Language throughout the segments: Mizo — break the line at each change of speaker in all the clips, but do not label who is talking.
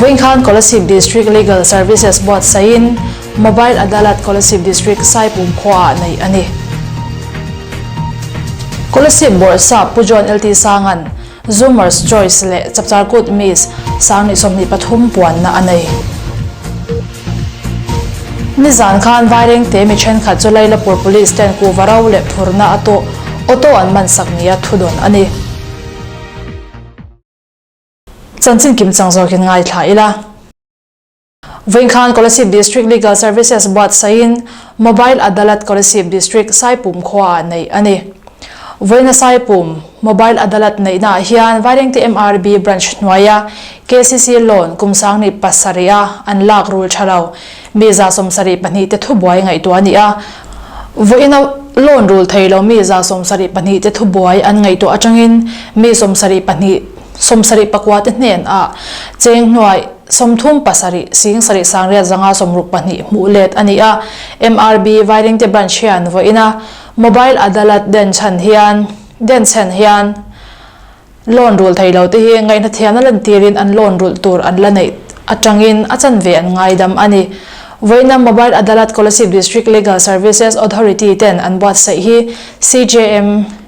Vawinkhân Kolasib District Legal Services Board sain Mobile Adalat Kolasib District sai pum khuaah neih a ni. Kolasib Bawrhsa Pu John LT Sangan, Zoomer's Choice leh Chapcharkut Miss Sangni sawmhnih pathum puanna a nei. Nizan khân Vairengte mi ṭhenkhat chu Lailapur Police ten kuhva ro leh phurna a tuh auto an mansak nia thudawn a ni. Chanchin kim chang zawkin ngaithla ila. Vawinkhlan Kolasib District Legal Services Buat sawiin Mobile Adalat Kolasib District Saipum khuaah neih a ni. Vawina Saipum Mobile Adalat neihnaah hian Vairengte MRB Branch hnuaia kcc loan kum sangni pasarih a an lak rul tha lo mi za sawmsarih pahnih te thu buai ngaihtuah a ni a. Vawina loan rul thei lomi za sawmsarih pahnih te thu buai an ngaihtuah atangin mi sawmsarih pahnih, Sawmsarih pakua te hnen ah Chengnuai sawmthum pasarih Sing sarih Sangriat zanga sawmruk pahnih hmuh let a ni a. MRB Vairengte Branch hian vawi ina Mobile Adalat den chhan hian den chhen hian loan rul thei lo te hi ngaihna thiam na lan tir in an loan rulh tur an la neih a tang in a chanve an ngaidam a ni. Vawiinam Mobile Adalat Kolasib District Legal Services Authority ten an buatsaih hi CJM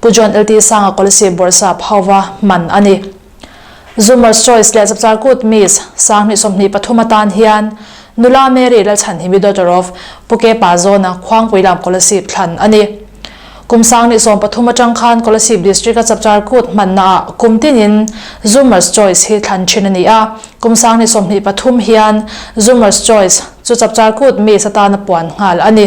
Pu John L T Sanga Kawlsip Bawrhsap hova hman a ni. Zoomer's Choice leh Chapchar Kut Miss, Sang hnih sawmhnih pathum atan hian Nula Mary Lalchhanhimi Daughter of Pu Kepa Zona Khuangpui lam Kawlsip thlan a ni. Kum Sang hnih sawm pathum atang khan Kawlsip District a Chapchar Kut hmanna ah kum tinin Zoomer's Choice hi thlan thin a ni a, kum sang hnih sawmhnih pathum hian Zoomer's Choice chu Chapchar Kut Miss atana puan nghal a ni.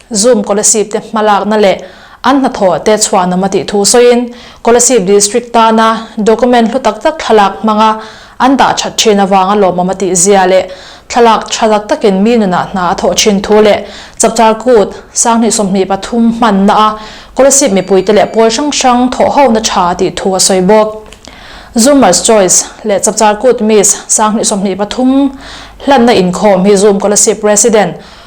Zoom Kolasib te hmalakna leh an hnathawh te chhuahnawma tih thu sawiin Kolasib District tana document hlu tak tak thlalak hmanga an dah that thin avanga lawmawm a tih zia leh thlalak tha tak takin mi nunah hna a thawh thin thu leh chapter kut sanghnih sawmhnih pathum hmanna a Kolasib mipuite leh pawl hrang hrang thawh hona tha a tih thu a sawi bawk. Zoomers Choice leh chapter kut miss sanghnih sawmhnih pathum hlanna inkhawm hi Zoom Kolasib Resident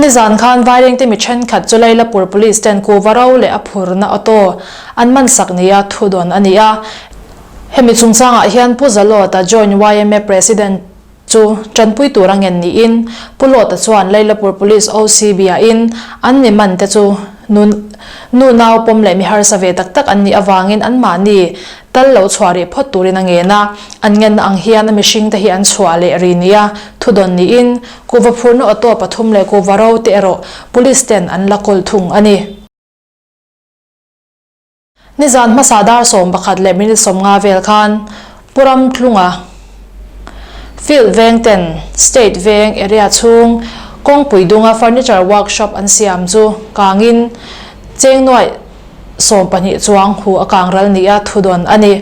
Nizan khan Vairengte mi thenkhat chu Lailapur Police ten kuhva ro leh a phurna auto an mansak neia thu dawn a ni a. Hemi chungchangah hian Pu Zalawta Joint yma President chu tanpui tur a ngen niin Pu Lawta chuan Lailapur Police OCB a in an ni man te chu nu nu nau pawm leh mi harsa ve tak tak an nih avangin an mahni tal lo chhuah rih phawt turin a ngen a. An ngenna ang hian a mihringte hi an chhuah leh rih neia thu dawn niin Kuva phurna auto pathum leh kuva ro te erawh police ten an la kawl thung a ni. Nizan hmasa dar sawm pakhat leh minute sawm nga vel khan Puramtlunga field veng ten state veng area chhung kawngpui dunga furniture workshop an siam chu kangin chengnuai sawm pahnih chuang hu a kang ral nia thu dawn a ni.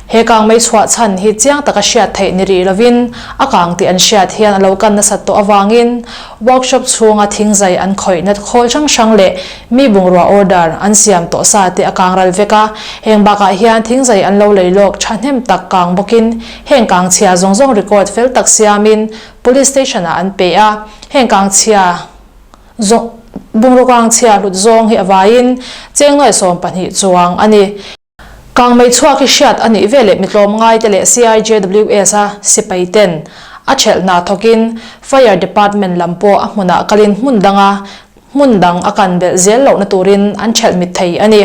He kang mai chhuah chhan hi chiang taka hriat theih ni rih lovin a kang tih an hriat hian a lo kan nasat tawh avangin workshop chhunga thing zai an khawih nat khawl hrang hrang leh mi bungrua order an siam tawh sa te a kang ral vek a, heng bakah hian thing zai an lo lei lawk tha hnem tak kang bawkin heng kang chhia zawng zawng record fel tak siamin police station ah an pe a, heng kang chhia zawng bungrua kang chhia hlut zawng hi avaiin chengnuai sawm pahnih chuang a ni. Kangmei chhuak i hriat a nih ve leh mi tlawm ngai te leh CIJWS a sipai ten a ṭhelh hna thawk in Fire Department lam pawh a hmunah kal in hmun dang a hmun dang a kan belh zel lohna tur in an ṭhelh mit thei a ni.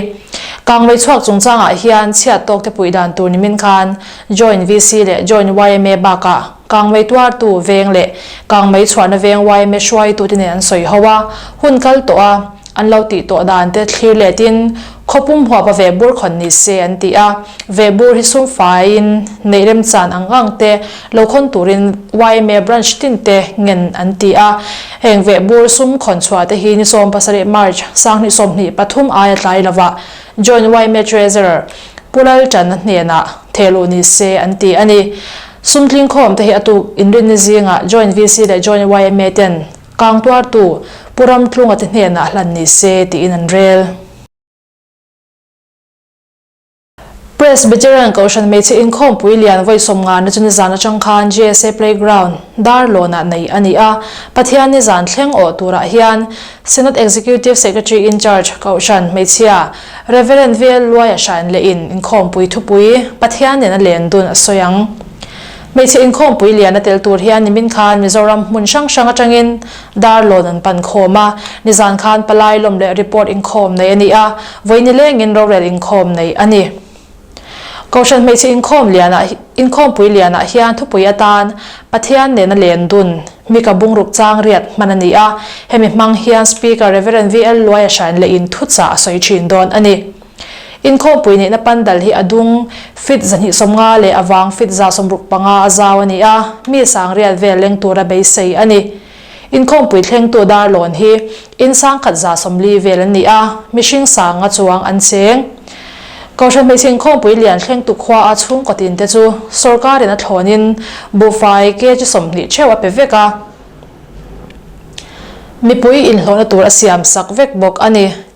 Kangmei chhuak chung chang ah hian chhiat tawk te puih dan tur ni min khan Joint VC leh Joint yma bak ah Kangmei tuartu veng leh kangmei chhuahna veng YMA hruaitu te nen an sawi ho a, hun kal tawh a, an lo tih tawh dan te thlir let in khaw pum huapa ve bur khawn ni se an ti a, ve bur hi sum fai in neih rem chan ang ang te lo khawn tur in YMA branch tin te ngen an ti a, heng ve bur sum khawn chhuah te hi ni sawm pasarih March sanghnih sawmhnih pathum aia tlai lo a Joint YMA Treasurer Pu Lalchan a hnenah thehluh ni se an ti a ni. Sumtling khawm te hi a tuk inrinna zingah Joint VC leh Joint yma ten kang tuartu Pu Ramtlunga te hnenah a hlan ni se tiin an rel. Presbyterian Kohhran Hmeichhe Inkhawmpui Lianvawi sawmngarna chu nizan atang khan GSA Playground dar lawnah nei a ni a, Pathian nizan thleng awh turah hian Senate Executive Secretary Incharge Kohhran hmeichhia, Reverend Vel Luai a hran leh in inkhawmpui thupui Pathian nen a len dun a sawi ang. Hmeichhe inkhawmpui lian a tel tur hian nimin khan Mizoram hmun hrang hrang atangin dar lawn an pan khawm a, nizan khan palai lawm leh report inkhawm nei a ni a, vawi nilengin rorel inkhawm nei a ni. Kohhran hmeichhe inkhawm liana inkhawmpui lianah hian thupui atan Pathian nena len dun mika bungruk changriat hman a ni a, hemi hmang hian Speaker Reverend VL Luaia Hran leh in thuchah a sawi thin dawn a ni. Inkhawmpui neihna pandal hi a dung feet zahnihsawmnga leh avang feet zasawmruk panga a zau a ni a, mi sangriat vel leng tura beisei a ni. Inkhawmpui thlengtu darlawn hi in sangkhat za sawmli vel an ni a, mihring sanga chuang an cheng. Kohhran hmeichhe inkhawmpui lian thlengtu khuaa chhungkatin te chu sorkarin a thlawnin buhfai kg sawmhnih theuh a pe vek a, mipui inhlawhna tur a siam sak vek bawk a ni.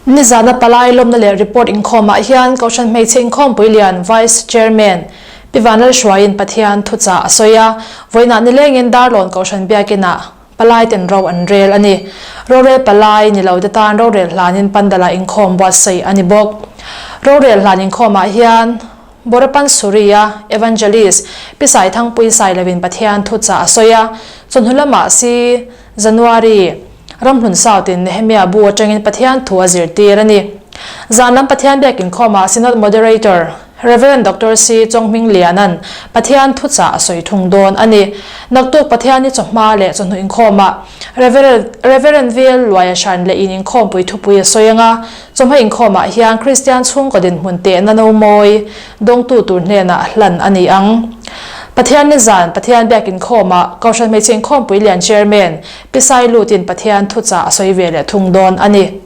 Nizana palai lawmna leh report inkhawmah hian Kohhran Hmeichhe Inkhawmpui Lian, Vice Chairman, Pi Vanlalhruaiin Pathian thuchah a sawi a, vawiinah nilengin Darlawn Kohhran biakinah palai ten ro an rel a ni. Rorel palai ni lote tan rorel hlanin pandala inkhawm buat saih a ni bawk. Rorel hlan inkhawmah hian Borapan Suria, Evangelist, Pi Saithangpui Sai lovin Pathian thuchah a sawi a, chawhnu lamah si January, ramhlun sautin Nehemiah bu atangin Pathian thu a zirtir a ni. Zan lam Pathian biak inkhawmah Synod Moderator, Reverend Doctor Sri Chonghming Liana'n Pathian thu chah a sawi thung dawn a ni. Naktuk Pathian i chawhma leh chawhnu inkhawmah Reverend Reverend Vel Luaia Hran leh in inkhawmpui thupui a sawi anga chawhma inkhawmah hian Kristian chhungkaw dinhmun tehna nomawi dawngtu tur hnenah a hlan a ni ang. Pathian ni zan Pathian biak inkhawmah Kohhran Hmeichhe Inkhawmpui Lian Chairman, Pisai lut in Pathian thu chah a sawi ve leh thung dawn a ni.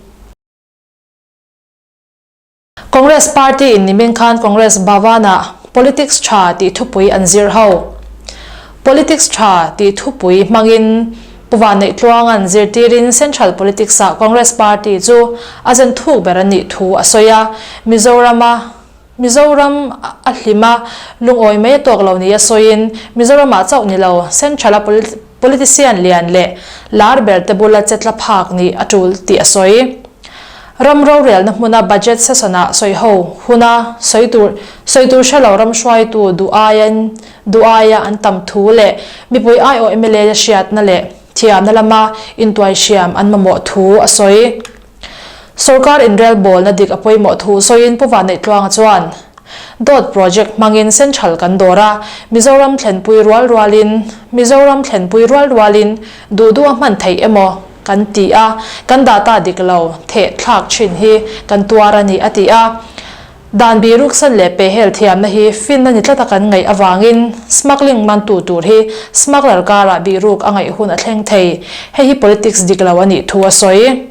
Congress party in nimin khan Congress Bhavan ah Politics tha tih thupui an zir ho. Politics tha tih thupui hmang in Pu Vaneihtluang an zirtir in Central Politics ah Congress party chu a zen thuk ber a nih thu a sawi a, Mizoram a, Mizoram a hlim a, lungawi mai a tawk lo nia sawiin Mizoramah chauh ni lo Central-a politician lian leh lar ber te bula che tla phak nih a tul tih a sawi. Ram rorelna hmuna budget session-ah sawiho huna sawi tur sawi tur hre lo ram hruaitu duh-aia duh-aia an tam thu leh mipui aiawh mla hriatna leh thiamna lama intuai hriam an mamawh thu a sawi. Sorkar inrel bawlna dik a pawimawh thu sawiin Pu Vah Neih Tluanga chuan, Dawt project hmangin central kan dawr a, Mizoram thlenpui rual rualin, Mizoram thlenpui rual rualin duh duh a hman theih emaw kan ti a, kan dah ta dik lo, theh thlak thin hi kan tuar a ni, a ti a. Dan bih ruksan leh pehel thiamna hi fin a ni tlat a kan ngaih avangin smuggling mantu tur hi smuggler karah bih ruk a ngaih hun a thleng thei. Hei hi politics dik lo a nih thu a sawi.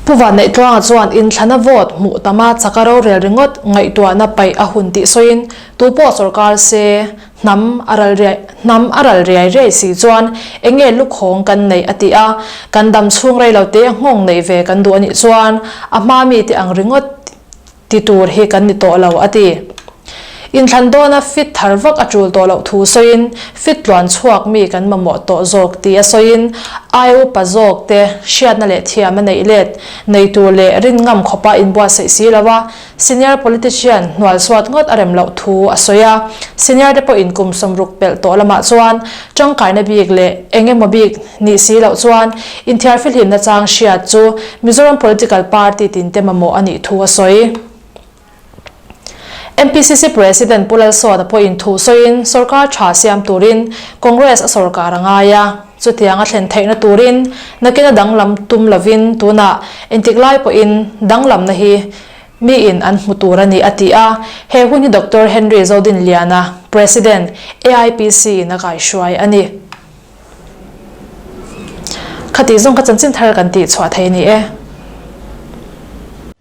Pu Vanneihtluanga chuan inthlana vote hmuh tama chak a rorel ringawt ngaihtuahna paih a hun tih sawiin tupawh sawrkar se Hnam a ral riai, hnam a ral riai riai si chuan eng nge lukhawng kan neih a ti a, kan dam chhung rei lo te a nghawng neih ve kan duh a nih chuan a hma mi te ang ringawt ti tur hi kan ni tawh lo a ti. Inthlan dawna fit thar vak a tul tawh loh thu sawiin fit tluan chhuak mi kan mamawh tawh zawk ti a sawiin ai upa zawk te hriatna leh thiam a neih let, nei tur leh rin ngam khawpa inbuatsaih si lo a, Senior politician hnual suat ngawt a rem loh thu a sawi a, senior te pawhin kum sawm ruk pelh tawh lamah chuan tangkaina bik leh eng emaw bik nih si loh chuan inthiarfel himna chang hriat chu Mizoram political party tin te mamawh a nih thu a sawi. MPCC President Pu Lalsawta pawhin thu sawiin sawrkar tha siam turin Congress a sawrkar a ngai a. Chutiang a thlen theihna turin nakin a danglam tum lovin tunah intiklai pawhin danglamna hi miin an hmu tur a ni, a ti a. He hun hi Doctor Henry Zodinliana, President, AIPC in a kaihruai a ni. Khati zawng kha chanchin thar kan tih chhuah thei a ni e.